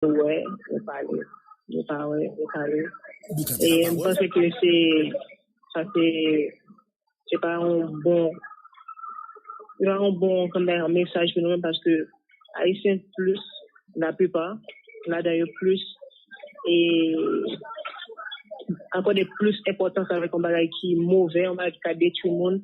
wè yo pale yo pa wè yo pale e m panse ke se sa se se pa yon bon se pa yon bon kòmè yon mesaj pou nou menm paske ayisyen plis la plipa ladan yo plis e akòde plis enpòtans avèk yon bagay ki movè yon bagay ki ka detwi moun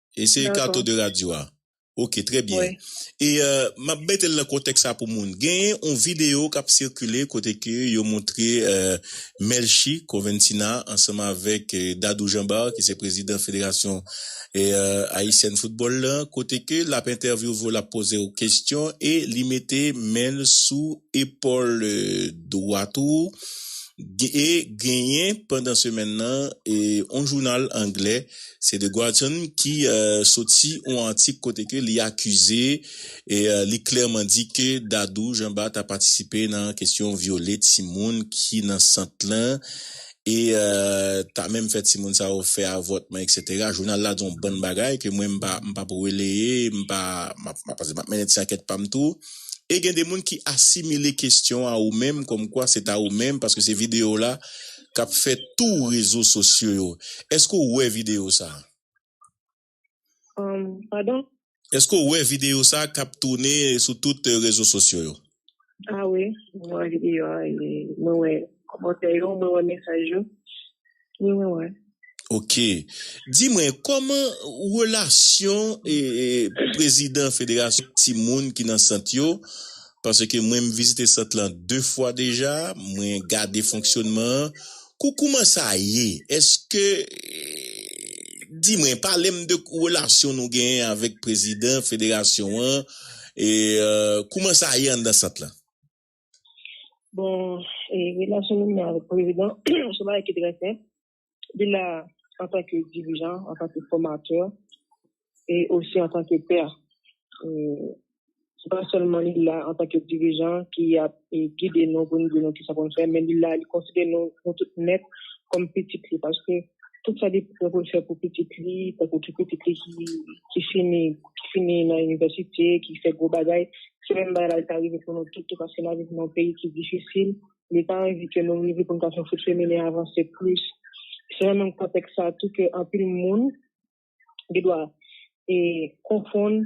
Eseye kato de radyo a. Ok, trè byen. E m ap mete l nan kontèks la pou moun. Genyen yon videyo k ap sikile kote ke yo montre Melchie Conventina ansanm avèk Dadou Jean-Bart ki se prezidan federasyon ayisyèn foutbòl la, kote ke l ap entèvyouve w, l ap poze w kesyon e li mete men l sou epòl dwat ou. E genyen pandan semèn nan yon jounal angle. Se The Guardian ki soti yon atik kote ke li akize e li klèman di ke Dadou Janba ta patisipe nan kesyon vyole timoun ki nan sant lan e ta menm fè timoun sa yo fè avòtman eksetera. Jounal la di yon bann bagay ke mwen m pa m pa p releye, m pa m ap paske m ap mennen ti ankèt pa m tou e gen de moun ki asimile kesyon a ou menm kòmkwa se ta ou menm paske se videyo w la kap fè tou rezo sosyo yo eske ou wè video sa? Humm pardon? Eske ou wè video sa kap toune sou tout rezo sosyo yo? Ah wi mwen wè video a e mwen wè kòmantè yo mwen wè mesaj yo wi mwen wè. Ok di mwen kòman relasyon prezidan federasyon timoun ki nan sant yo paske mwen m vizite sant lan 2 fwa deja mwen gade fonksyonman an kou kouman sa ye eske di mwen palem de relasyon nou genyen avèk prezidan federasyon an kouman sa ye anndan sant lan. Bon, relasyon nou menm avèk prezidan se bagay ki trè senp. Li la antanke dirijan, antanke fòmatè e osi antanke pè. Se pa sèlman li la antanke dirijan ki ap gide nou pou nou di nou kisa pou nou fè men li la li konsidere nou tout nèt kòm pitit li paske tout sa li te konn fè pou pitit li, tankou ki pitit li ki fini, ki fini nan inivèsite, ki fè gwo bagay, se menm bagay la li ka rive pou nou tout tou paske n'ap viv nan yon peyi ki difisil, li pa anvi ke nou rive pou nou ka fè fout feminen avanse plis. Se nan menm kontèks sa tou ke anpil moun. gen dwa konfonn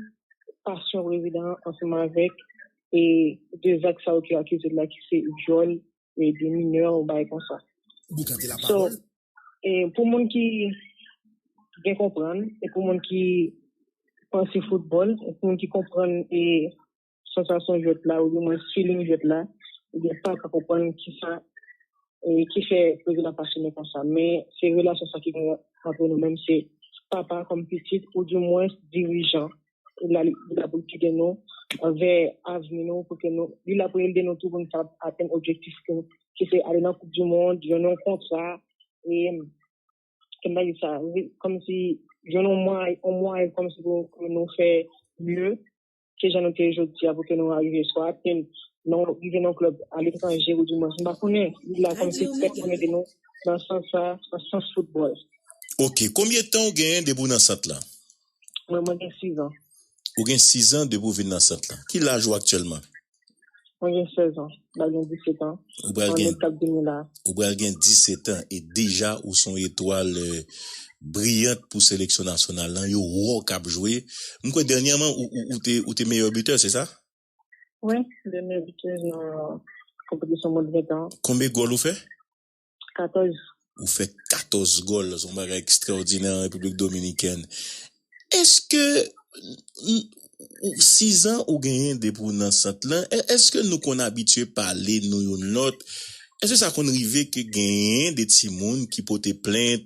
pasyon prezidan an ansanm avèk de zak sa yo ki akize l la ki se vyòl de minè ou bagay konsa. So, pou moun ki byen konprann e pou moun ki panse foutbòl, pou moun ki konprann e sansasyon jwèt la oudimwens feeling jwèt la oubyen pa ka konprann kisa ki fè Prezidan ap asyone konsa men se relasyon sa ki genyen antre nou menm se papa kòm pitit oudimwens dirijan li la li la pou l gide nou vè avni nou pou ke nou li la pou l ede nou tou pou nou ta atenn objektif nou ki se ale nan koup dimond jwenn yon kontra e ke m ta di sa kòmsi jwenn yon mwayen kòmsi pou nou fè mye. ke jan nou te ye jodi a pou ke nou arive swa atenn nan rive nan klèb aletranje ou di mwens mpa konnen lig la kòm se pèp nan mete nou nan sans sa nan sans foutbòl. Ok konbyen tan ou genyen depi ou nan sant lan? Mwen mwen gen 6 ans. Ou gen 6 ans depi ou vin nan sant lan. Ki laj ou aktyèlman? Mwen gen 16 ans, m pral gen 17 ans an out kap vini la. Ou pral gen 17 ans e deja ou son etwal briyant pou seleksyon nasyonal lan, yo wè w kap jwe. M kwè dènyèman ou te meyè bitè se sa? Wi, m te meyè bitè nan konpetisyon mond 20 ans an. Konbe gòl ou fè? 14. Ou fè 14 gòl, son bagay ekstraòdinè an Repiblik Dominikèn. Eske, sizan ou genyen depi ou nan sant lan, eske nou konn abitye pale nou youn lòt? Eske sa konn rive ke genyen de timoun ki pote plent?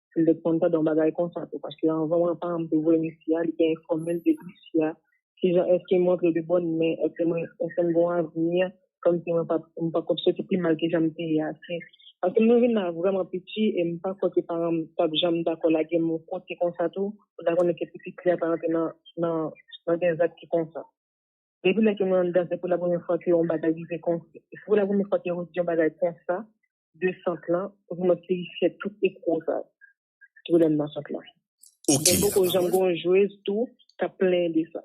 Li te konn tande yon bagay konsa tou, paske anvan mwen pa m te voye mesye a, li te enfòme l de mesye a, kijan èske m rantre de bòn men, èske m èske m gen yon avni, kòmsi mwen pa m pa konn soti pi mal ke jan m te ye a. Se paske m te vin la vrèman piti e m pa kwè ke paran m t ap janm dakò lage m yon kote konsa tou, pou ta konnen ke pitit li a ta rantre nan nan nan de zak ki konsa. Depi lè ke mwen anndan se pou la premye fwa ke yon bagay rive konsa, se pou la premye fwa ke yo di yon bagay konsa. de sant lan pou fè mwen pifye tout ekro sa ki lèm nan sant lan gen poko janm gen yon jwez tou kap plenyen de sa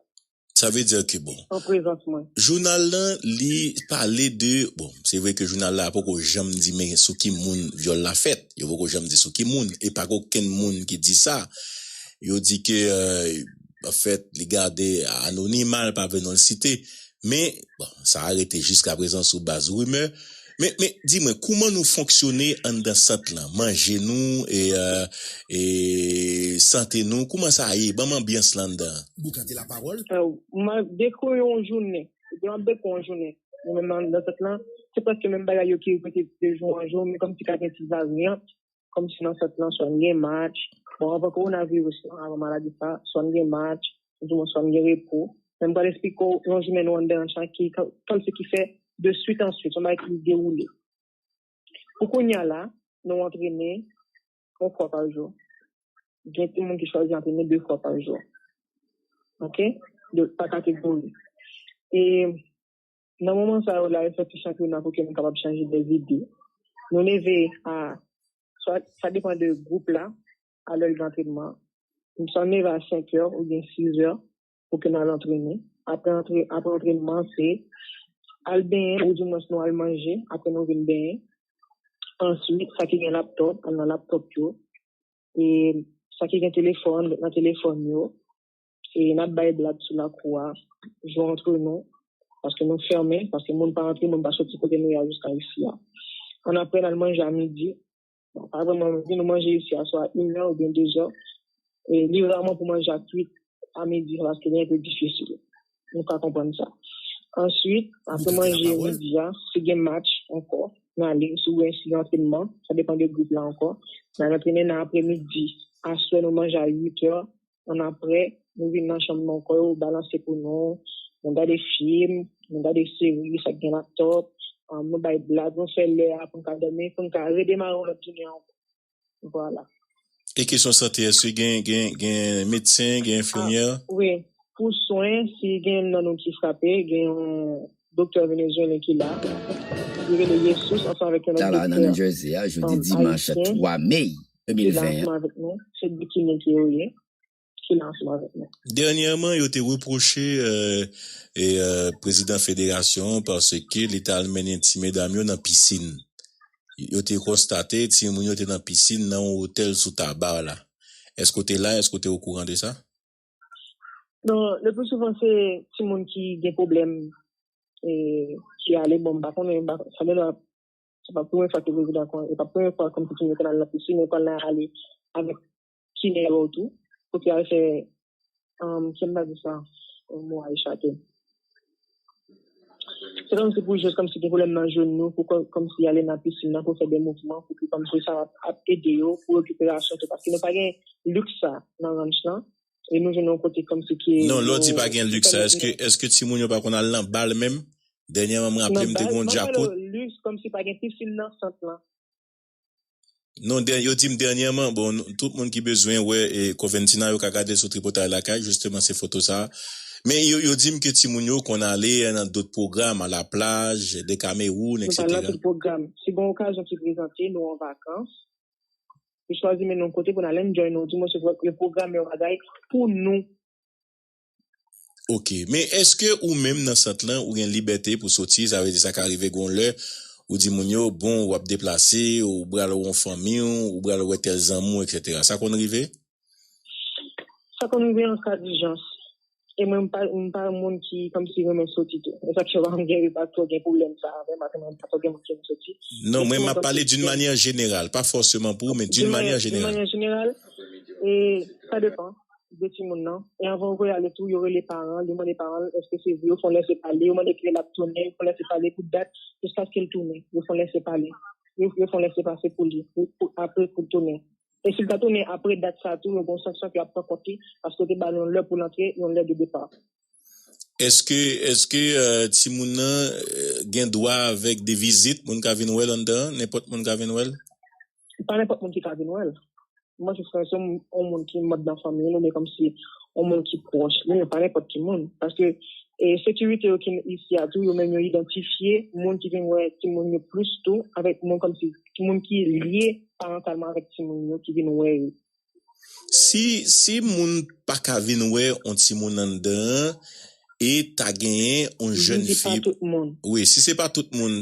sa vle di ke bon an prezans mwen. Jounal lan li pale de bon se vre ke jounal la poko janm di men sou ki moun vyòl la fèt yo poko janm di sou ki moun e pako kenn moun ki di sa yo di ke. An fèt, li gade anonima, l pa vle non l site. Men, bon, sa a rete jiskaprezan sou baz rimè. Men, men, di mwen, kouman nou fonksyone anndan sant lan? Manje nou, e, e, sante nou, kouman sa ye? Ban m anbyans lan anndan an. Boukan te lapawòl. M ap dekri w yon jounen. Ebyen, m ap dekri w yon jounen. Nou menm anndan sant lan, se prèske menm bagay yo ki repete de jou an jou, men kòmsi ka gen ti varyant. kòmsi nan fèt lan swa n gen match, bon anvan kowonaviris lan, anvan maladi sa, swa n gen match, oudimwens swa n gen repo, men m pral esplike w yon jounen nou anndan an sa ki kòmsi ki fè de swit an swit, son bagay ki dewoule. Pou kounya la, nou antrene yon fwa pa jou, gen timoun ki chwazi antrene de fwa pa jou, ok, pa kategori. E Nan moman sa yo la yo fè ti chanpyona pou ke nou kapab chanje dè zide. Nou leve a swat sa depan de gwoup la a lè l gen antrenman. Nou swat nou leve a 5 è ou byen 6 è pou ke nou al antrene. Apre antrenman se al benyen ou di mwens nou al manje apre nou vin benyen. Answit sa ki gen laptop al nan laptop yo. E sa ki gen telefòn ret nan telefòn yo. se nap bay blag sou lakou a, jwe antre nou, paske nou fèmen, paske moun pa antre, moun pa soti kote nou ye a jiska isi a. Annapre, n al manje a midi. Bon, pa vrèman midi, nou manje isi a swa inè oubyen dezè. E li raman pou manje a kwit a midi, paske li anpe difisil. Nou ka konprann sa. Answit, apre manje midi a, si gen match ankò, n ale, si gen antrenman, sa depan de gwoup la ankò, n al antrene nan apre midi. Aswè nou manje a 8 è, annapre, nou vin nan chanm nan kò yo balanse pou nou, nou gade fim, nou gade seri, sa k gen laptòp, nou bay blag, nou fè lè a pou n ka dòmi, pou n ka redemare yon lòt jounen ankò. Vwala. E kesyon sante, èske gen medsen, gen enfimyè? Wi. Pou swen, si gen youn nan nou ki frape, gen yon doktè venezuelen ki la. Li rele Jesús ansanm avèk yon lòt doktè ayisyen. Dènyèman, yo te repwoche prezidan federasyon an paske li t al mennen ti medam yo nan pisin. Yo te konstate timoun yo te nan pisin nan yon otèl sou Tabar la. Èske w te la? Èske w te okouran de sa? Non, lepli souvan se timoun ki gen pwoblèm ki ale. Bon, m pa konnen, sanble m pa. Se pa premye fwa ke prezidan kon, e pa premye fwa kom koutim yo konn al nan pisin, yo konn ale avèk chimè yo tou, pou te al fè, kè m pa di sa, mo a echape. Se kom si pou jwet kom si gen pwoblèm nan jenou, pou kom si ale nan pisin nan pou fè de mouvman, pou ki kom si sa ap ede yo pou rekiperasyon tou, paske nou pa gen liks sa nan ranch lan. e nou jwenn yon kote kòmsi ke yo Non lè w di pa gen luxe sa èske èske timoun yo pa konn al nan bal menm? Dènyèman m raple m te gen yon djakout Nan bal, mwen pale w luxe kòmsi pa gen pisin nan sant lan. Non dè yo di m dènyèman bon tout moun ki bezwen wè Coventina yo ka gade l sou Tripotay Lakay jisteman se foto sa men yo yo di m ke timoun yo konn ale nan dot pwogram a la plaj, Dekamewoun Mwen pa nan eksetera. tout pwogram. Si gen okazyon ki prezante nou an vakans Li chwazi mennen w kote pou n al enjoy nou di mwen se vre yo pwograme yon bagay pou nou. Ok men eske ou menm nan sant lan ou gen libète pou soti sa vle di sa ka rive gen yon lè ou di moun yo bon wap deplase ou bral wè yon fanmi w ou bral wè tèl zanmi w etc sa konn rive? Sa konn rive an ka dijans. E mwen m pa yon moun ki kòmsi renmen soti tou. E sa k fè m pa gen pa twò gen pwoblèm sa avè m ak mwen pa twò gen moun ki renmen soti. Non mwen m ap pale d'une manière générale, pa fòseman pou ou men d'une manière générale. D'une manière générale, e sa depan de timoun nan. E anvan yo voye ale tou yo rele paran l, yo mande paran l èske se vre, yo fè yon lèse pale, yo mande kilè l ap tounen, yo fè yon lèse pale pou dat jiskaske l tounen. Yo fè yon lèse pale, yo fè yon lèse pase pou li pou apre pou l tounen. E si l ta tounen apre dat sa a tou, yo gen yon sanksyon ke y ap pran kont li, paske yo te ba l yon lè pou l antre, yon lè de depa. Èske, èske timoun nan gen dwa avèk de vizit, moun ka vin wè l anndan an? Nenpòt moun ka vin wè l? Pa nenpòt moun ki ka vin wè l. Mwen se san se yon moun ki manb nan fanmi l oubyen kòmsi yon moun ki pwòch li, men pa nenpòt ki moun. Paske sekirite yo ki isi a tou, yo menm yo idantifye moun ki vin wè timoun yo plis tou avèk moun kòmsi. moun ki lye parantalman avèk timoun yo ki vin wè yo. Si moun pa ka vin wè yon timoun anndan an e ta genyen yon jèn fi. Si se pa tout moun. Wi, si se pa tout moun.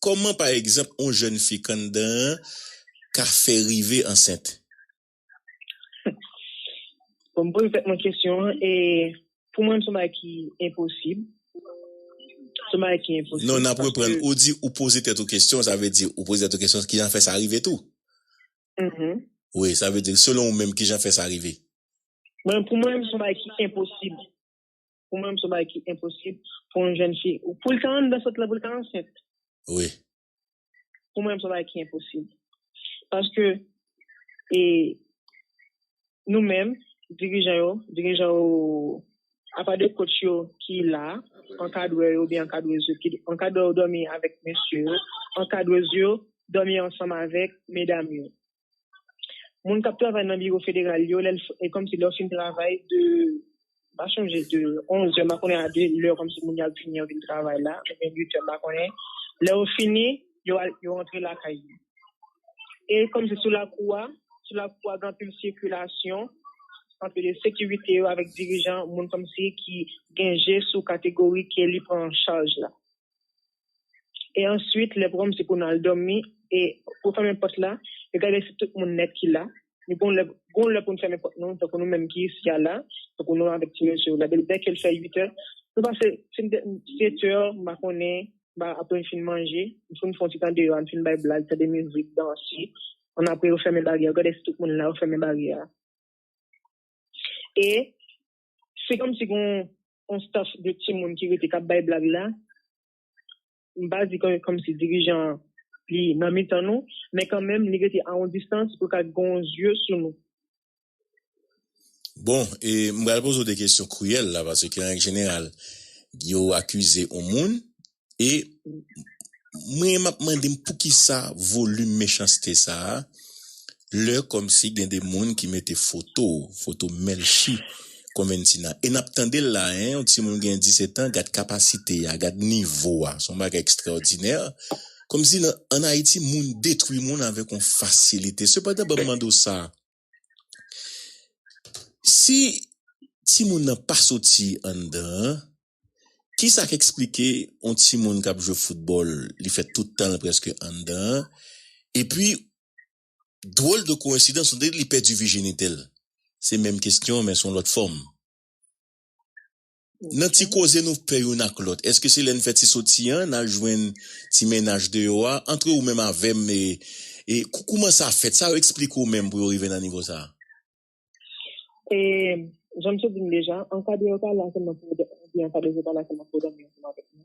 Kòman pa egzanp yon jèn fi k anndan an ka fè rive ansent? Bon m poze tèt mwen kesyon an e pou mwen son bagay ki enposib, son bagay ki enposib paske. Non nap reprann, ou di ou poze tèt ou kesyon sa vle di ou poze tèt ou kesyon kijan fè sa rive tou? Uhmm. Wi sa vle di selon ou menm kijan fè sa rive? Mwen pou mwen son bagay ki enposib, pou mwen son bagay ki enposib pou yon jèn fi pou l ta anndan sant lan pou l ta ansent. Wi. Pou mwen son bagay ki enposib. Paske e nou menm dirijan yo, dirijan yo apa de coach yo ki la, ankadrè yo oubyen ankadrèz yo, ankadrè yo dòmi avèk mesye yo, ankadrèz yo dòmi ansanm avèk medam yo. moun kap travay nan biwo federal yo lè e kòmsi lè yo fin travay de m pa chonje de 11 zè m pa konnen a de lè kòmsi moun yo ap vini yo vin travay la oubyen 8 zè m pa konnen lè yo fini yo al yo rantre lakay yo e kòmsi sou lakou a sou lakou a gen anpil sikilasyon anpil de sekirite yo avèk dirijan moun kòmsi ki gen je sou kategori ke li pran an chaj la. e answit lè pranm se pou nal dòmi e pou fèmen pòt la e gade si tout moun nèt ki la e gon lè gon lè poun fèmen pòt nou tankou nou menm ki isi a la tankou nou avèk ti mesye yo la dè kel fè 8 è nou pase fin 7 è m pa konnen ba apre n fin manje nou foun fon ti tan deyò a n fin bay blag tande mizik danse an apre yo fèmen baryè yo gade si tout moun la yo fèmen baryè a e. Se kòm si gen yon staff de timoun ki rete kap bay blag la. M pa di kòm si dirijan an li nan mitan nou, men kan menm li rete a yon distans pou l ka gen yon zye sou nou. Bon, e m pral poze w de kesyon kriyèl la, paske an règ jeneral, yo akize yon moun, E mwen map mande m poukisa volim mechanste sa a lè kòmsi gen de moun ki mete foto w, foto Melchie Conventina e nap tande l la hein yon timoun gen 17 ans gad kapasite a, gad nivo a son bagay ekstraòdinè kòmsi an Ayiti moun detwi moun avèk yon fasilite sepandan banm mande w sa a. Si timoun nan pa soti anndan an, ki sa k esplike yon timoun k ap jwe foutbòl, li fè tout tan l prèske anndan an, epi dwòl de koyensidans, on dirait li pèdi vijinite l? Se menm kesyon men s on lòt fòm. Nan ti koze nou fè youn ak lòt, èske se lè n fè ti soti an n al jwenn ti mennaj deyò a? Antre ou menm avè m, e kouman sa fèt? Sa yo esplike w menm pou yo rive nan nivo sa a? E, jan m te di n deja, an ka deyò pa la sèlman pou yo, oubyen an ka deyò pa la sèlman pou yo dòmi ansanm avèk nou.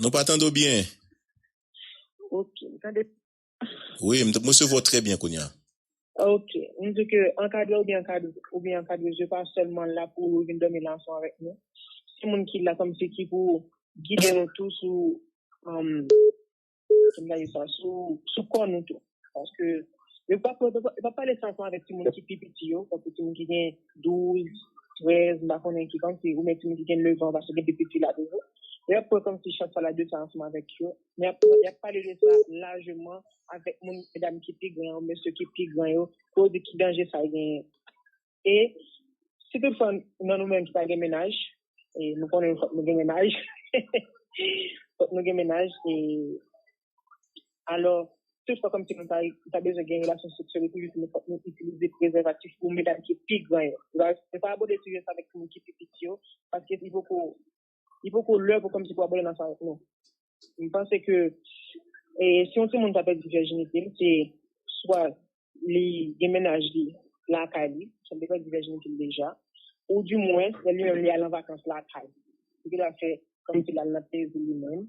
Nou pa tande w byen. Ok, m tande. Wi, m resevwa w trè byen kounya. Ok, m di ke ankadre oubyen ankadre, oubyen ankadrez yo pa sèlman la pou vin dòmi nan ansanm avèk nou. Se moun ki la kòm si ki pou gide nou tou sou, kòm m ta di sa, sou kò nou tou. Paske, yo pa pale, yo pa pale sa ansanm avèk timoun ki pi piti yo, tankou timoun ki gen 12, 13, m pa konnen ki kantite, oubyen timoun ki gen 9 an, paske gen pi piti la toujou. Yo ap pran kòmsi chak fwa l ap di sa ansanm avèk yo. Men ap pran, y ap pale de sa lajeman avèk moun, medam ki pi gran yo, mesye ki pi gran yo, pou yo di ki danje sa genyen. E si tout fwa nan nou menm ki pa gen mennaj, e nou konnen fòk nou gen mennaj, fòk nou gen mennaj, e alò tout fwa kòmsi nou pa bezwen gen relasyon seksyèl epi nou fòk nou itilize prezèvatif pou medam ki pi gran yo. Se pa abòde sijè sa avèk timoun ki pi piti yo paske li poko. li poko lè pou kòmsi pou abòne nan sa non. M panse ke si yon timoun ta pèdi vèjinite l se swa li gen mennaj li lakay li, sa li pèdi vèjinite l deja, ou di mwens lè li menm li al an vakans lakay li, li ta fè kòmsi l al nan plezi li menm.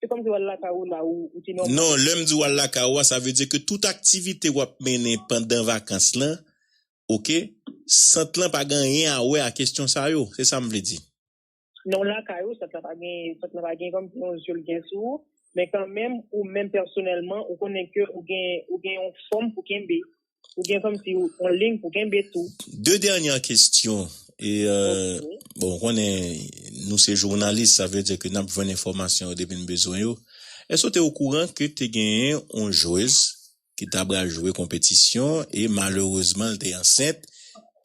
Se kòmsi wal lakay ou la ou di nòmal. Non, lè m di wal lakay ou a, sa vle di ke tout aktivite w ap mennen pandan vakans lan, ok, sant lan pa gen anyen a wè a kesyon sa yo. Se sa m vle di. Lè w lakay ou, sant lan pa gen, sant lan pa gen kòmsi yon je l gen sou ou, men kanmenm ou menm pèsonèlman ou konnen ke ou gen, ou gen yon fòm pou kenbe. Ou gen kòm si ou on lign pou kenbe tou. De dènyè kestyon e bon ou konnen nou se jounalis sa vle di ke nap jwenn enfòmasyon yo depi nou bezwen yo. Èske ou te okouran ke te genyen on jwez ki ta pral jwe konpetisyon e malerezman li te ansent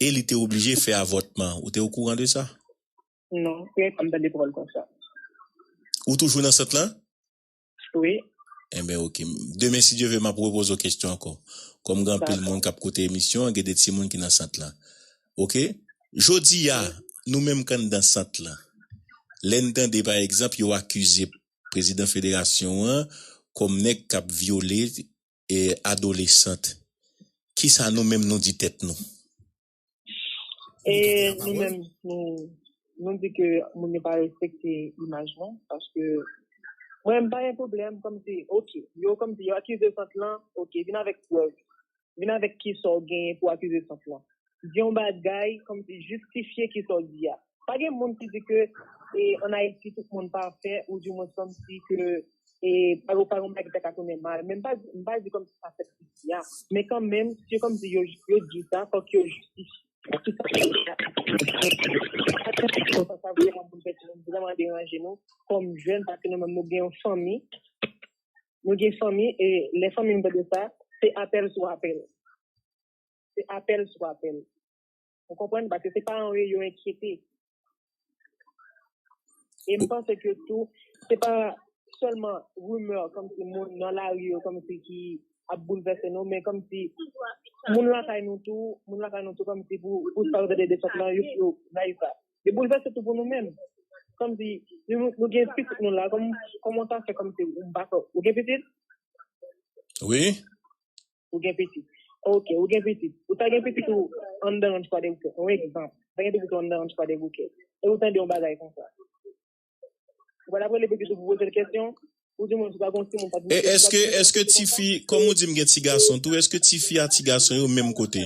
e li te oblije fè avòtman? Ou te okouran de sa? Non, premye fwa m tande pawòl konsa. Ou toujou nan sant lan? Wi. Enben ok. Demen si Dye ve map repoze w kestyon anko. Kom gen anpil moun kap koute emisyon an gen de timoun ki nan sant lan. Ok. Jodi a nou menm k anndan sant lan lè n tande pa egzanp yo akize prezidan federasyon an kom nèg kap vyole adolesant kisa nou menm nou di tèt nou? E nou menm nou di ke moun yo pa respekte imaj nou paske mwen menm pa gen pwoblèm kòm si ok yo kòm si yo akize sant lan ok vin avèk prèv vin avèk kisa w genyen pou w akize sant lan di yon bagay kòm si jistifye kisa w di a Pa gen moun ki di ke an Ayiti tout moun pafè ou di mwen san si ke pa gen yon bagay ki ta ka tounen mal. Men m pa di, m pa di kòmsi sa fèt jodi a. Men kan menm, si yo kòmsi yo di sa, fòk yo jistifye ki sa ki fèt la. Konsa sa vrèman pou n fè di nou, vrèman deranje nou kòm jèn paske nou menm nou gen yon fanmi. Nou gen fanmi e lè fanmi nou tande sa, se apèl sou apèl. Se apèl sou apèl. Ou konprann? Paske se paran yo yo enkyete. E m panse ke tou, se pa sèlman rimè kòm si moun nan lari yo kòm si ki ap boulvèse nou, men kòm si moun lakay nou tou, moun lakay nou tou kòm si pou sa yo te de desant lan, yo nayiv la. Yo boulvèse tou pou nou menm. Kòm si nou gen pitit nou la, kòman w ta fè kòm si ou pa fè, ou gen pitit? Wi. ou gen pitit. Ok, ou gen pitit. Ou ta gen pitit ou anndan Ranch Kwadèboukè, yon egzanp. Ou ta gen pitit ou anndan Ranch Kwadèboukè, e ou tande yon bagay konsa. Ou pral ap rele pitit ou pou poze l kesyon? Ou di moun si w pa gen yon timoun, pa di moun kesyon, pa di moun kesyon pou konsa? Kòm ou di m gen tigason tou, èske tifi a tigason yo menm kote?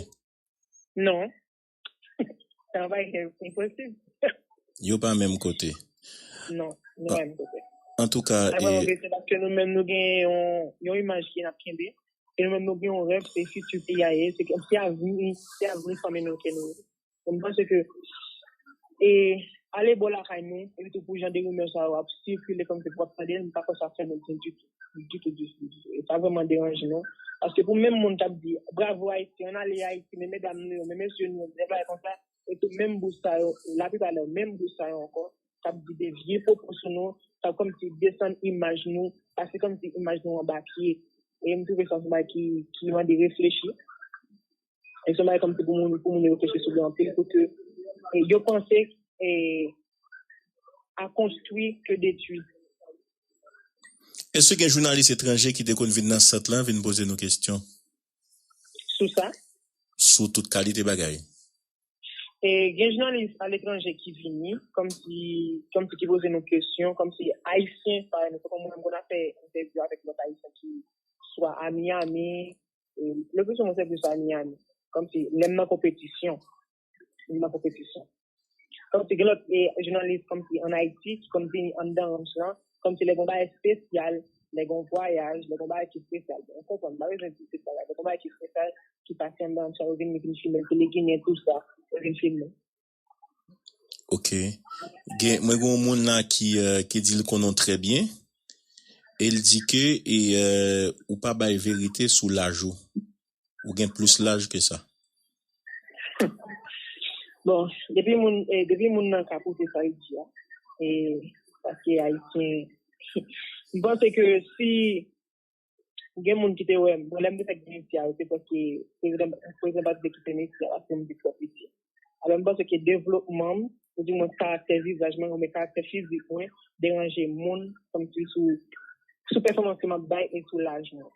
Non. Sa va ete imposib. Yo pa menm kote. Non, yo pa menm kote. An tou ka. Sa va ete paske nou menm nou gen yon imaj ki nap kenbe. E nou menm nou gen yon ref se fiti pi ya ye. Se kèm si a vini, si a vini fanmi nou ke nou. Mwen mwen se ke. E ale bo la kay nou. E li tou pou jan de rimè sa yo ap si ki le kèm se pwap pade. Mwen pa fè sa fè mwen di di di. ditou ditou ditou e sa vreman deranje nou paske pou menm moun kap di bravo Haiti ann ale Haiti men medam nou yo men mesye nou yo men bagay konsa e se menm bouch sa yo la plipa lè menm bouch sa yo ankò kap di de vye pwopou sou nou sa kòmsi desann imaj nou pase kòmsi imaj nou anba pye e m twouve sa se bagay ki mande reflechi. E son bagay kòm si pou moun yo reflechi sou li anpil pou ke yo panse a konstwi ke detwi. Èske gen jounalis etranje ki te konn vin nan sant lan vin poze nou kesyon? Sou sa? Sou tout kalite bagay. Gen jounalis aletranje ki vini, kòmsi ki poze nou kesyon, kòmsi Ayisyen pa renmen. Se kòm mwen m konn ap fè entèvyou avèk lòt Ayisyen ki swa a Miyami, leplistouvan mwen se plis a Miyami, kòmsi lè m nan konpetisyon. M nan konpetisyon. Kòmsi gen lòt jounalis kòmsi an Ayiti ki konn vini anndan ranch lan Kòm si lè gen yon bagay espesyal, lè gen yon vwayaj, lè gen yon bagay ki espesyal, bon, ou konprann, m pa bezwen di tout bagay, lè gen yon bagay ki espesyal, ki pase anndan ann sa, yo vini, yo vini filme l, tele Ginen, tout sa, yo vini filme l. Ok. Gen, mwen gen yon moun la ki, ki di l konnen w trè byen, e l di ke e ou pa bay verite sou laj ou. Ou gen plis laj ke sa. Bon, depi moun, depi moun nan ka pwouve sa li di a, e paske Ayisyen, m panse ke si gen moun ki te wè m, bon lè m te fèk vin isi a, se paske prezidan, prezidan pa t vle kite m isi a paske m vin twò piti. Alò, m panse ke devlopman m, ou di mwens karaktè vizaj mwen, oubyen karaktè fizik mwen, deranje moun, kòmsi sou, sou pèfòmans ke m ap bay e sou laj mwen.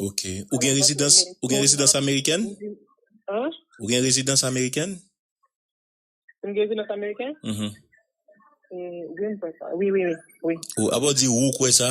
Ok. Ou gen rezidans, ou gen rezidans amerikèn? An? Ou gen rezidans amerikèn? Si m gen rezidans amerikèn? Mh. Wi, m kwè sa. Wi, wi, wi. Wi. Ou, apa w di ou kwè sa?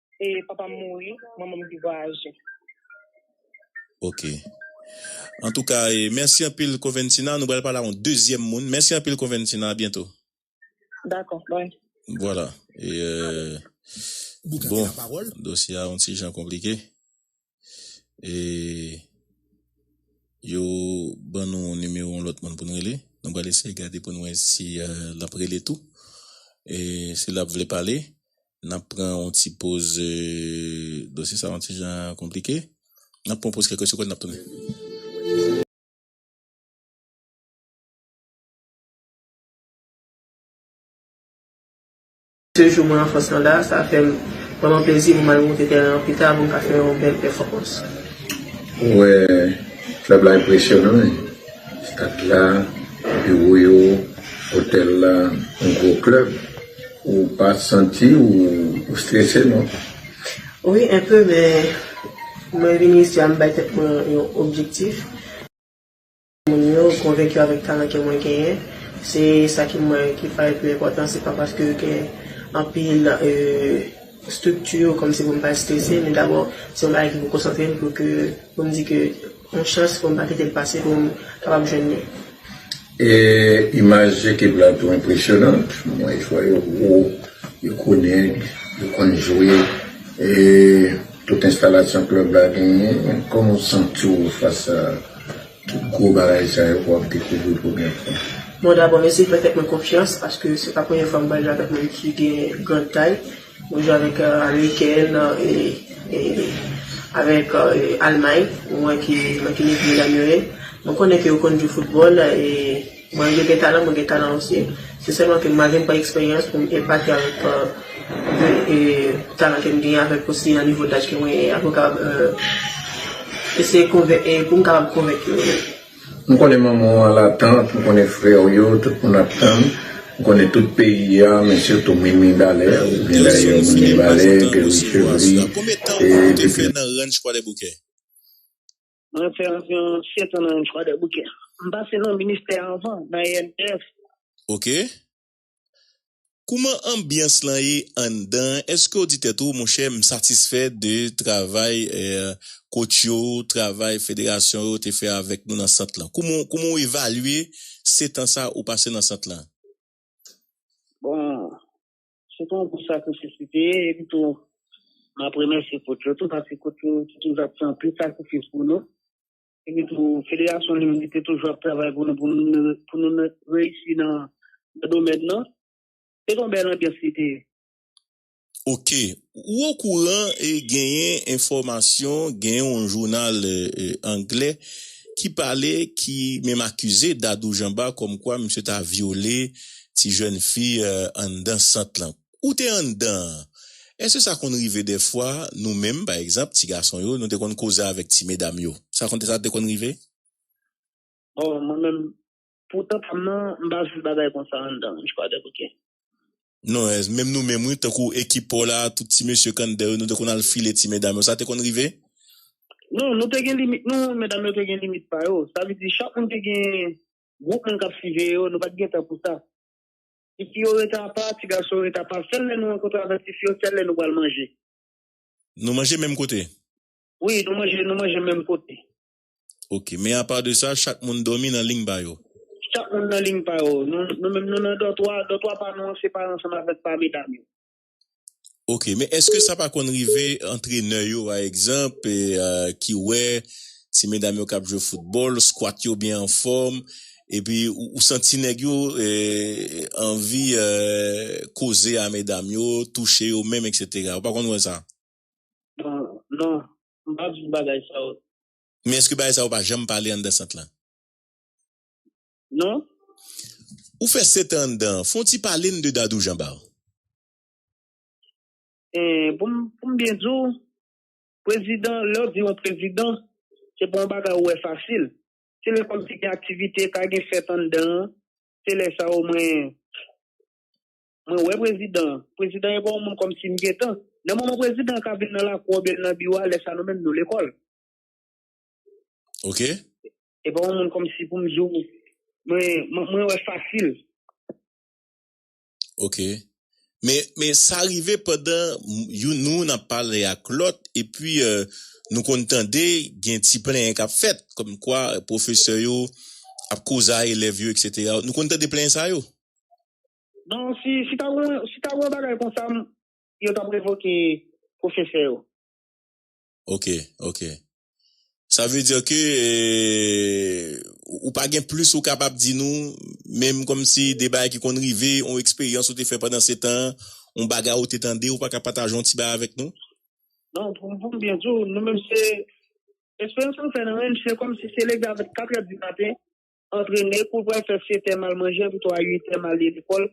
e papa m mouri manman m te vwayaje. Ok antouka e mèsi anpil Coventina nou pral pale a yon dezyèm moun mèsi anpil Coventina a byento. Dakò bye. Vwala e bon dosye a yon ti jan konplike. e yo ban nou nimewo yon lòt moun pou n rele. Nou pral eseye gade pou n wè si l ap rele tou. E si l ap vle pale, n ap pran yon ti poz. Dosye sa a yon ti jan konplike. N ap pran yon poz kèk segonn, n ap tounen. Se jou mwen an fòs lan la, sa fè m vrèman plezi pou m al moute tèren an pita pou m ka fè yon bèl pèfòmans. Mwen wè klèb la enpresyonan wi, stad la, biwo yo, otèl la, yon gwo klèb. Ou pa santi ou strese non? Wi enpe men mwen vini isi a m bay tèt mwen yon objektif. Moun yo konvenki avèk talan ke mwen genyen, se sa ki mwen ki fè l pi enpòtan, se pa paske yo gen anpil estrikti kòm si pou m pa estrese, men dabò se yon bagay ki pou konsantre m pou ke pou m di ke yon chans pou m pa kite l pase pou m kapab jwenn li. E imaj ekip la tou enpresyonant, m wè jwè yo gwo, yo konnen, yo konn jwe e. Tout enstalasyon klèb la genyen, kòman ou santi w fas a tout gwo bagay sa yo ke w ap dekouvri premye fwa? Bon dabò mesi fè tèt mwen konfyans paske se pa premye fwa m pral jwe avèk moun ki gen grand tay, mwen jwe avèk amerikèn e avèk almay mwen wè ke mwen gen nivo nan yo ye, mwen konnen ke yo konn jwe foutbòl e. Mwen yo gen talan mwen gen talan osi se sèlman ke malgre m pa eksperyans pou m epate avèk talan ke m genyen avèk osi nan nivo daj ke mwen ye a pou m kapab eseye konvenk e pou m kapab konvenk yo. M konnen manman w al atant, m konnen frè w yo, tout moun ap tann, m konnen tout peyi a men sitou min Mibalè ou byen dayè moun Mibalè, Guerrier Chevry e depi. Mwen fè anviwon 7 an nan yon Kwadèboukè. M pase nan ministè anvan, nan ENPF. Ok. Kouman anbyans lan ye anndan an? Èske w di tèt ou, monchè, m satisfè de travay kotch yo, travay federasyon yo te fè avèk nou nan sant lan? Kouman w evalye setan sa ou pase nan sant lan? Bon, Se pa yon gwo sakrifis li te ye, epi tou m ap remèsye kot yo tou paske kot yo te toujou ap fè anpil sakrifis pou nou. Epi tou federasyon li menm li te toujou ap travay pou nou pou nou reyisi nan domèn nan. Se te yon bèl anbyans li te ye. Ok, Ou okouran genyen enfòmasyon gen yon jounal anglè ki pale ki menm akize Dadou Janba kòmkwa misye ta vyole ti jèn fi anndan sant lan. Ou te anndan an. Èske sa konn rive dèfwa nou menm pa egzanp ti gason yo nou te konn koze avèk ti medam yo? Sa konn te konn rive? Bon mwen menm Pou tan pam nan m pa viv bagay konsa anndan ranch kwadèk ok. Non ez menm nou menm wi tankou ekip paw la tout ti mesye kandè yo nou te konn al file ti medam yo sa te konn rive? Non nou te gen limit nou medam yo te gen limit pa yo sa vle di chak moun te gen gwoup moun kap siveye yo nou pat gen tan pou sa ti fi yo rete apa ti gason yo rete apa sèl lè nou rankontre avèk ti fi yo sèl lè nou pral manje. Nou manje menm kote? Wi nou manje nou manje menm kote. Ok men apa de sa chak moun domi nan lign pa yo. Chak moun nan lign pa yo. Nou menm nou nan dòtwa, dòtwa pa nou an se pa ansanm avèk pa medam yo. Ok men eske sa pa konn rive antrenè yo pa egzanp ki wè ti medam yo kap jwe foutbòl skwat yo byen anfòm epi ou santi nèg yo anvi koze a medam yo touche yo menm etc ou pa konn wè sa? Non M pa vle bagay sa yo. Men eske bagay sa yo pa janm pale anndan sant lan? Non. Ou fè setan anndan an, fon ti pale n de Dadou Janbar. Pou m byen di w, prezidan, lè w di yon prezidan, se pa yon bagay ou wè fasil. Se lè kòmsi gen aktivite, ka gen fèt anndan an, se lè sa yo mwen. Mwen wè prezidan an. Prezidan e pa yon moun kòm si m gen tan. Nan moman prezidan an ka vin nan lakou oubyen nan biwo a, lè sa nou menm nou lekòl. Ok. E pa yon moun kòm si pou m di w mwen wè fasil. Ok. Men sa rive pandan youn nan nou ap pale ak lòt epi nou konn tande gen ti plenyen k ap fèt kòm kwa pwofesè yo ap koze a elèv yo eksetera. Nou konn tande plenyen sa yo? Bon si si ta gen si ta gen yon bagay konsa yo tap revoke pwofesè yo. Ok ok sa vle dire ke ou pa gen plis ou kapab di nou menm komsi de bagay ki konn rive yon eksperyans ou te fè pandan setan an yon bagay ou te tande ou pa ka pataje yon ti bagay avèk nou? Non pou m byen di w nou menm se eksperyans nou fè nan menm se komsi se leve avèk katrè di maten Antrene kou pral fè setè mal manje anpi 3 uitè mal li lekòl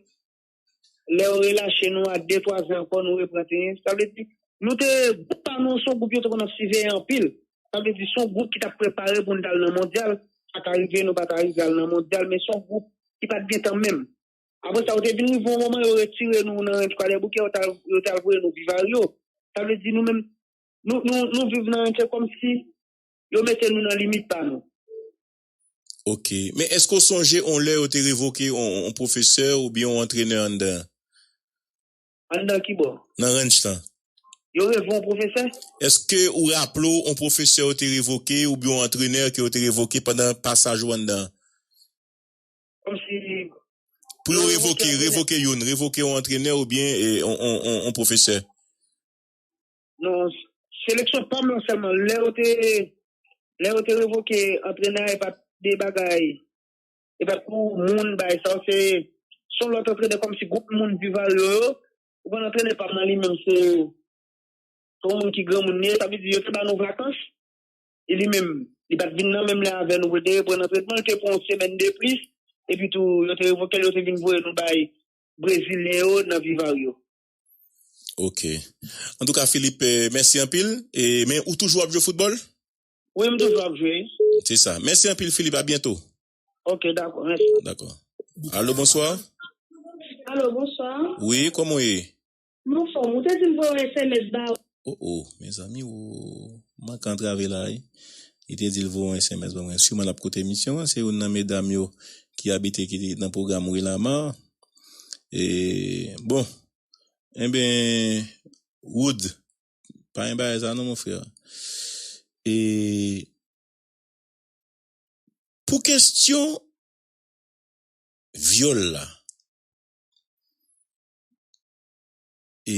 lèw relache nou a de twa zè ankò nou repran tenyen sa vle di nou te gwoup pa nou an son gwoup yo te konn ap siveye anpil sa vle di son gwoup ki tap prepare poun tal nan mondyal sa ka rive nou pata rive al nan mondyal men son gwoup ki pat gentan menm apre sa yo te vin rive yon moman yo retire nou nan ranch kwadèboukè yo tal yo tal voye nou viv aryo sa vle di nou menm nou nou nou viv nan ranch se kòmsi yo mete nou nan limit pa nou. Ok. Men èske w sonje on lè yo te revoke on pwofesè oubyen on antrenè anndan an? Anndan ki bò? Nan ranch lan. Yo revo on pwofesè? Èske ou raple w on pwofesè yo te revoke oubyen on antrenè ke yo te revoke pandan pasaj ou anndan an? Kòmsi yo revoke antrenè? Pou yo revoke, revoke youn, revoke on antrenè oubyen on pwofesè. Non, seleksyon pam lan sèlman lè yo te lè yo te revoke antrenè e pat de bagay e pat pou moun bay sa se son lòt antrenè kòmsi gwoup moun Divalyo yo ou konn antrenè pam lan li menm se se yon moun ki granmoun li ye sa vle di yo te ba nou vakans e li menm li pat vin nan menm lè avè nou pou l te reprann antrenman li te pran yon semèn de plis epi tou yo te revoke l yo te vin voye nou bay brezilyen yo nan Vivaryo. Ok. Antouka Philippe, mèsi anpil. E men ou toujou ap jwe foutbòl? Wi, m toujou ap jwe. Se sa. Mèsi anpil Philippe, a byento. Ok, dakò. Mèsi. Dakò. Alo, bonswa? Alo, bonswa? Wi, kòman ou ye? M anfòm. Ou te di m voye yon sms ba ou. Oh oh mezanmi ooh manke antrave la wi li te dil voye yon sms ban mwen siman lap koute emisyon an se youn nan medam yo ki abite ki nan pwogram wi lama e bon enben Wood pa yon bagay sa non mon frère e pou kestyon vyòl la e.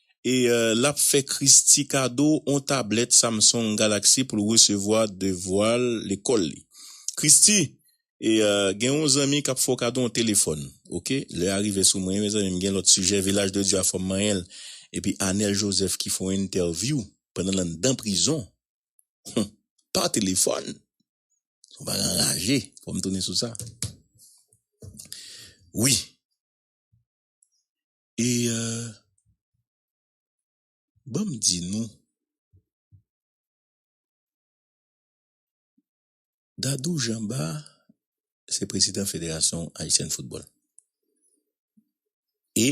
e l ap fè Christie kado on tablèt Samsung Galaxy pou l resevwa devwa lekòl li. Christie, e gen on zanmi k ap fè w kado on telefòn. Ok, lè a rive sou mwen mezanmi, m gen lòt sijè, Vilaj de Dye a fò m manyen l. Epi Anel Joseph ki fè on entèvyou pandan l anndan prizon, hum, pa telefòn! Son bagay anraje, fò m tounen sou sa. Wi. E ban m di nou, Dadou Janba se prezidan Federasyon Ayisyèn Foutbòl. E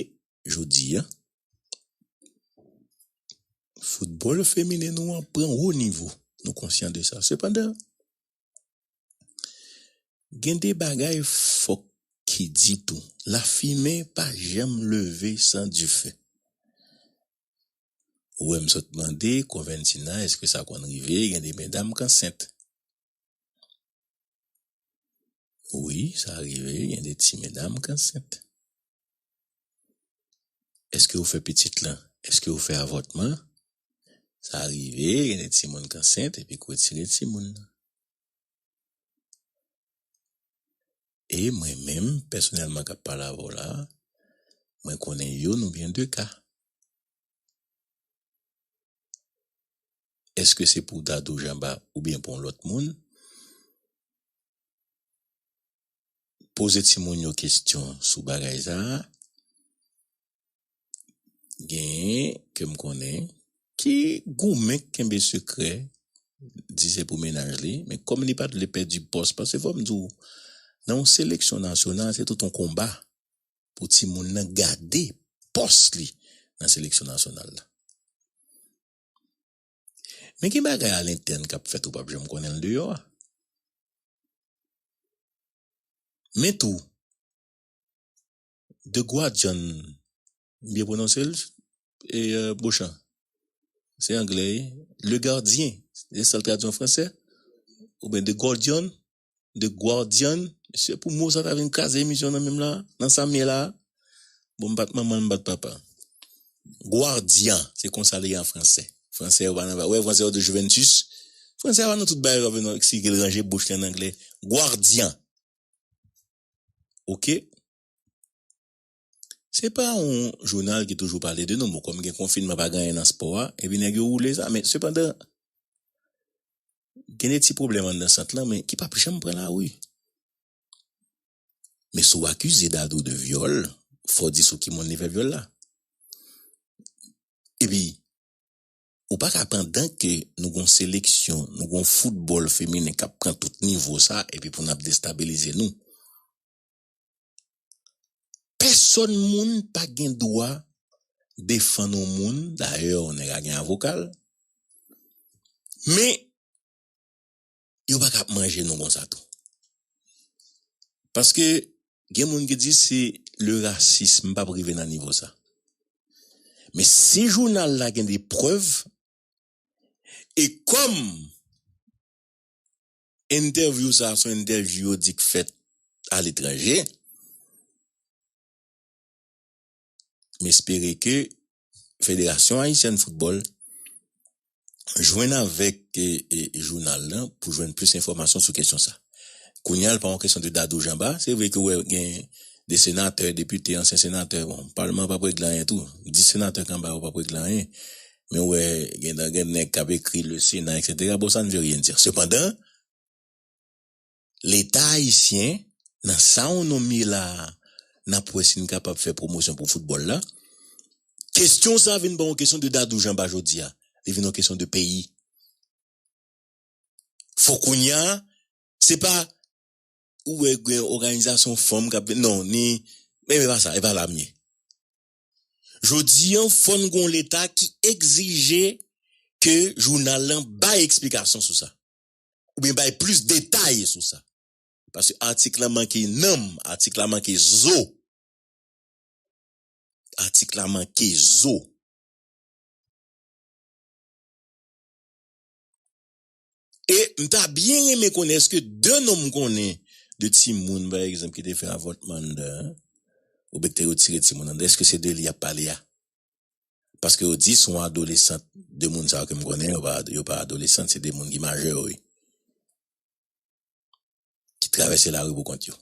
jodi a, foutbòl feminen nou an pran wo nivo, nou konsyan de sa. Sepandan, Gen de bagay fòk ki di tou, lafimen pa janm leve san dife. Ou wè m sot mande Conventina èske sa konn rive gen de medam k ansent. Wi sa rive gen de ti medam k ansent. Eske ou fè pitit lan? Eske ou fè avòtman? Sa rive gen de timoun k ansent epi k wetire timoun nan. E mwen menm pèsonèlman k ap pale avè w la a, mwen konnen youn oubyen de ka. Eske se pou Dadou Janba oubyen pou yon lòt moun? poze timoun yo kestyon sou bagay sa a, genyen ke m konnen ki goumen k kenbe sekrè di se pou mennaj li, men kòm li pa t vle pèdi pòs, paske fò m di w nan yon seleksyon nasyonal se tout yon konba pou timoun nan gade pòs li nan seleksyon nasyonal la. Men gen bagay alentèn k ap fèt ou p ap janm konnen l deyò a. Men tou, The Guardian, m byen pwononse l? E Beauchamp? Se anglè wi. Le Gardien, se sa l tradui an fransè? Oubyen The Guardian? The Guardian, mesye pou mo sa ta vin kraze emisyon nan menm la, nan sam ye la, bon m bat manman m bat papa. Guardian se konsa li ye an fransè. Fransè yo pa nan va, ou wè fransè yo di Juventus, fransè a pa nan tout bagay yo vin eksplike l ranje bouch li an anglè, Guardian. Ok. Se pa yon jounal ki toujou pale de nou. Bon, kòm gen konfinman, pa gen anyen nan spò a, epi nèg yo woule sa. Men, sepandan, gen de ti pwoblèm anndan sant lan, men ki pap janm pran lari. Men si w akize Dadou de vyòl, fò w di sou ki moun li fè vyòl la. Epi, ou pa ka pandan ke nou gen yon seleksyon, nou gen yon foutbòl feminen k ap pran tout nivo sa, epi pou n ap destabilize nou. Pèsòn moun pa gen dwa defann yon moun, dayè yon nèg a gen avoka l, men yo pa ka ap manje nou konsa tou. Paske gen moun ki di se le racisme, m pa p rive nan nivo sa. Men si jounal la gen de prèv e kòm Entèvyou sa a son entèvyou yo di k fèt aletranje. M espere ke Federasyon Ayisyèn Foutbòl jwenn avèk jounal lan pou jwenn plis enfòmasyon sou kesyon sa a. Kounya l pa yon kesyon de Dadou Janba. Se vre ke ou wè gen de senatè, depite, ansyen senatè, bon, palman an p ap regle anyen tou. Dis senatè k anba yo p ap regle anyen. Men ou wè gen dan gen nèg k ap ekri le Sénat eksetera bon sa ne veut rien dire. Sepandan, Leta ayisyen nan sa ou nonmye la a n ap wè si n kapab fè pwomosyon pou foutbòl la. Kesyon sa a vin pa yon kesyon de Dadou Janba jodi a, li vin yon kesyon de peyi. Fò kounye a, se pa ou wè gen òganizasyon fanm k ap non ni men e pa sa, e pa la m ye. Jodi an fò n gon leta ki egzije ke jounal lan bay eksplikasyon sou sa. Oubyen bay plis detay sou sa. Paske atik lan manke nanm, atik la manke zo. Atik la manke zo. E mta byen renmen konnen eske de nom ou konnen de timoun pa egzanp ki te fè avòtman anndan an oubyen ki te retire timoun anndan eske se de li yap pale a? Paske yo di son adolesant de moun sa yo kem konnen yo pa yo pa adolesant se de moun ki majè wi ki travèse lari pou kont yo.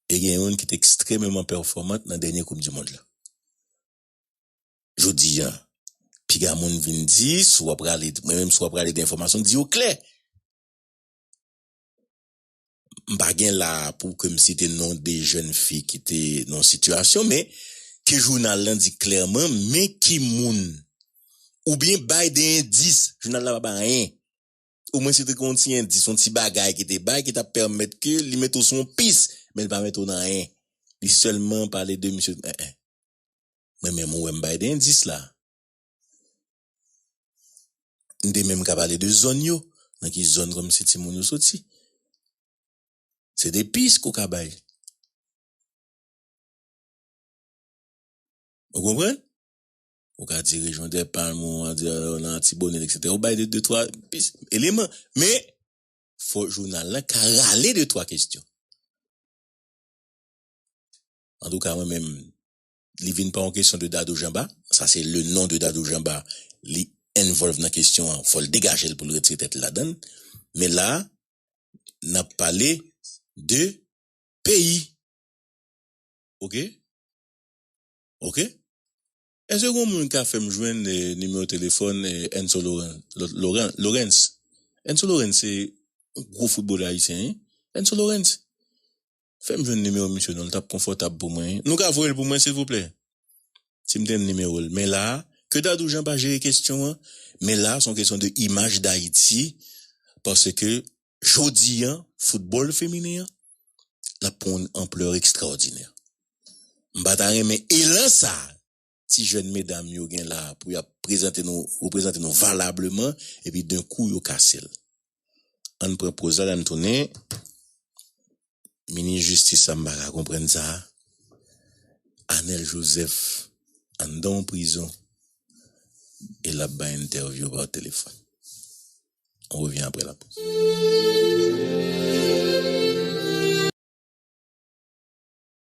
E gen youn ki te ekstrememan pèfòmant nan dènye koup dimond la. Jodi an, piga moun vin di, si w ap rale, mwen menm si w ap rale de enfòmasyon, di yo klè. M pa gen la a pou ke m site non de jèn fi ki te nan yon sitiyasyon, men ke jounal lan di klèman men ki moun, oubyen bay de endis, jounal la pa bay anyen, omwen si te gen yon ti endis, yon ti bagay ki te bay ki t ap pèmèt ke li mete w sou yon pis, men li pa mete w nan anyen. Li sèlman pale de misye, en en. Mwen menm ou wè m bay 2 endis la. M te menm ka pale de zòn yo, nan ki zòn kòmsi timoun yo soti. Se 2 pis ke w ka bay. Ou konprann? Ou ka di rejyon Dèpalm, ou ka di nan Atibonit eksetera. Ou bay 2, 2, 3 pis, eleman. Men, fò jounal la ka rale 2, 3 kestyon. Antouka mwen menm li vin pa yon kesyon de Dadou Janba, sa se le non de Dadou Janba li envolve nan kesyon an fòl degajel poul retire tèt li ladann men la nap pale de peyi ok ok èske gon moun ka fèm jwenn nimewo telefòn Enzo Laurens Enzo Laurens se gwo foutbolè ayisyen wi Enzo Laurens Fèm jwenn nimewo misye non li tap konfòtab pou mwen wi nou ka voyel pou mwen silvouplè sim te jwenn nimewol men la ke dadou jan pa jere kesyon an men la son kesyon de imaj dayiti paske jodi an foutbòl feminen an lap pran yon anplè ekstraòdinè m pata renmen elan sa ti jèn medam yo gen la pou y ap prezante nou reprezante nou valableman epi d'un coup yo kase l an n pran poz la la n tounen minis jistis sa m pa ka konprann sa Anel Joseph anndan yon prizon e l ap bay entèvyou pa telefòn on revient après la pause.